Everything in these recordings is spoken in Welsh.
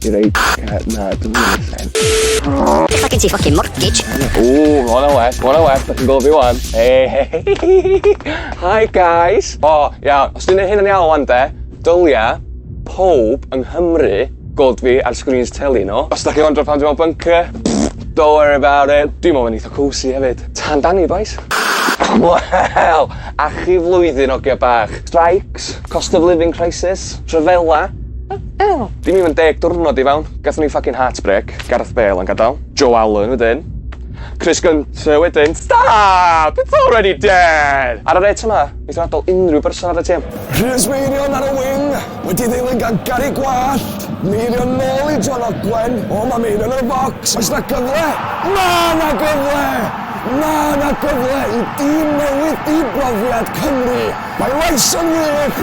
You're right, cat, na, dwi'n mynd i'r sen. Ella gen ti ffocin mortgage. O, ma hwnna well, ma hwnna well, da chi'n gofio wan. Hey, hey, hi guys. O, oh, ia, os dwi'n neud hyn yn iawn wan de, dylia pob yng Nghymru gold fi ar screens teli nhw. Os da chi'n wondro pan dwi'n mewn bunker, don't worry about it. Dwi'n mewn yn eitha cozy hefyd. Tan dan ni, boys. Wel, a chi flwyddyn o gia bach. Strikes, cost of living crisis, rhyfela, Ew! Dim even deg diwrnod i fewn, gathon ni ffycin heartbreak, Gareth Bale yn gadal, Joe Allen wedyn, Chris Gunter wedyn, stop! It's already dead! Ar y rêt yma, neith o adal unrhyw berson ar y tîm. Rhys Meirion ar y wing, wedi ddilyn gan Gary Gwallt, Meirion nôl i John Ogwen, o ma Meirion yn y bocs, oes na gyfle? Ma na gyfle! Ma na gyfle i dîm newydd di brofiad Cymru! Mae Lyson wych!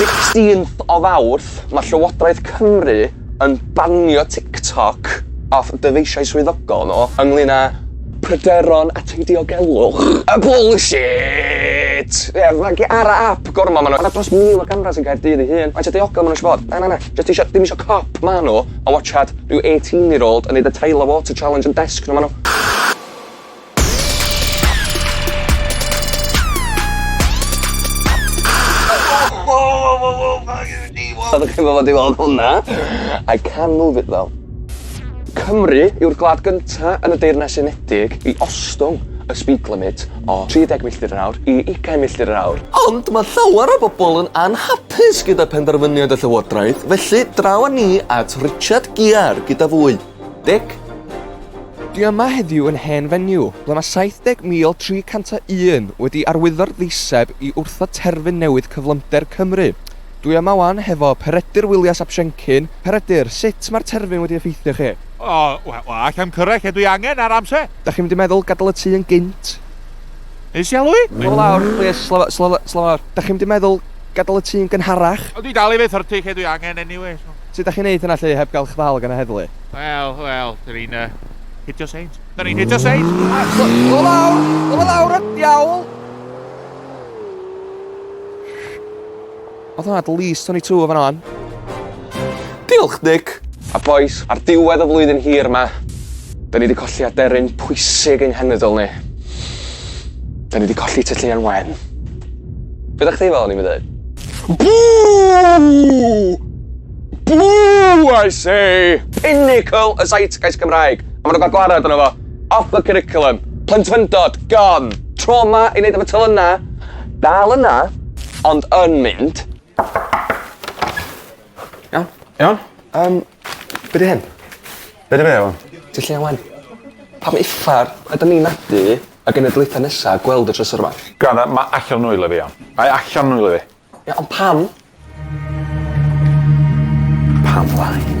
Sixteenth o Fawrth, mae Llywodraeth Cymru yn banio TikTok off dyfeisiau swyddogol nhw ynglŷn â pryderon at ei diogelwch. A bullshit! Ie, mae ar y ap gormod maen nhw. Mae 'na dros 1,000 o gamras yn Caerdydd ei hun. Faint o diogelwch maen nhw eisiau bod? Na, na, na. Jyst isio, ddim isio cop, ma' nhw, a watsiad rhyw 18 year old yn neud y Tyler Water Challenge yn desg nhw ma' nhw. Oeddech chi'n gwbod i weld hwnna? I can move it though. Cymru yw'r gwlad gynta yn y Deyrnas Unedig i ostwng y speed limit o 30 milltir yr awr i 20 milltir yr awr. Ond ma' llawer o bobol yn anhapus Pys gyda phenderfyniad y Llywodraeth, felly draw â ni at Richard Gear gyda fwy. Dic? Dwi yma heddiw yn hen fenyw, ble mae 70,301 wedi arwyddo'r ddeiseb i wrthod terfyn newydd cyflymder Cymru. Dwi yma 'wan hefo Peredur Willias ap Siencyn. Peredur, sut mae'r terfyn wedi effeithio chi? O, wel, allai'm cyrraedd lle dwi angen ar amser. Dach chi'm wedi meddwl gadael y tŷ yn gynt? Neis iawn i fi! Slofa lawr, plîs, slofa, slofa, slofa lawr. Dach chi'm wedi meddwl Gadael y tŷ yn gynharach. Ond dwi dal i fyth hurtu lle dwi angen anyway so. Sut dach chi'n neud hynna lly heb gael eich ddal gan y heddlu? Wel, wel, dyn ni'n yy hitio seins. Dyn ni'n hitio seins! Dyma lawr! Dyma lawr y diawl! Oedd hwnna at least 22 yn fan'na wan. Diolch, Nick! A bois, ar diwedd y flwyddyn hir 'ma, 'da ni 'di colli aderyn pwysig ein henedl ni. 'Da ni 'di colli Tŷ Lleuan Wen. Be' 'da chdi fel o'n i'n ddeud? Boo! Boo, I say! Pinnacle y Zeitgeist Cymraeg, a ma' 'na wbath gwarad yno fo. Off the curriculum. Plentyfyndod, gone. Trauma i neud efo telynna, dal yna, ond yn mynd. Iawn? Iawn? Yym, be' 'di hyn? Be' 'di fe ŵan? Ti lle ŵan? Pam uffar ydan ni'n nadu y genedlaetha nesa gweld y trysor 'ma? Granda, mae allan o nwylo fi iawn. Mae allan o nwylo fi. Ie, ond pam? Pam lai?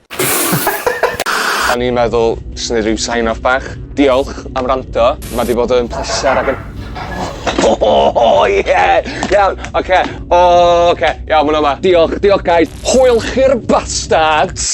O'n i'n meddwl, swn i ryw sign off bach. Diolch am rando. Mae di bod yn pleser ac yn... O, o, o, ie! Iawn, oce. O, oce. Iawn, mae'n yma. Diolch, diolch, guys. Hwyl chi'r bastards!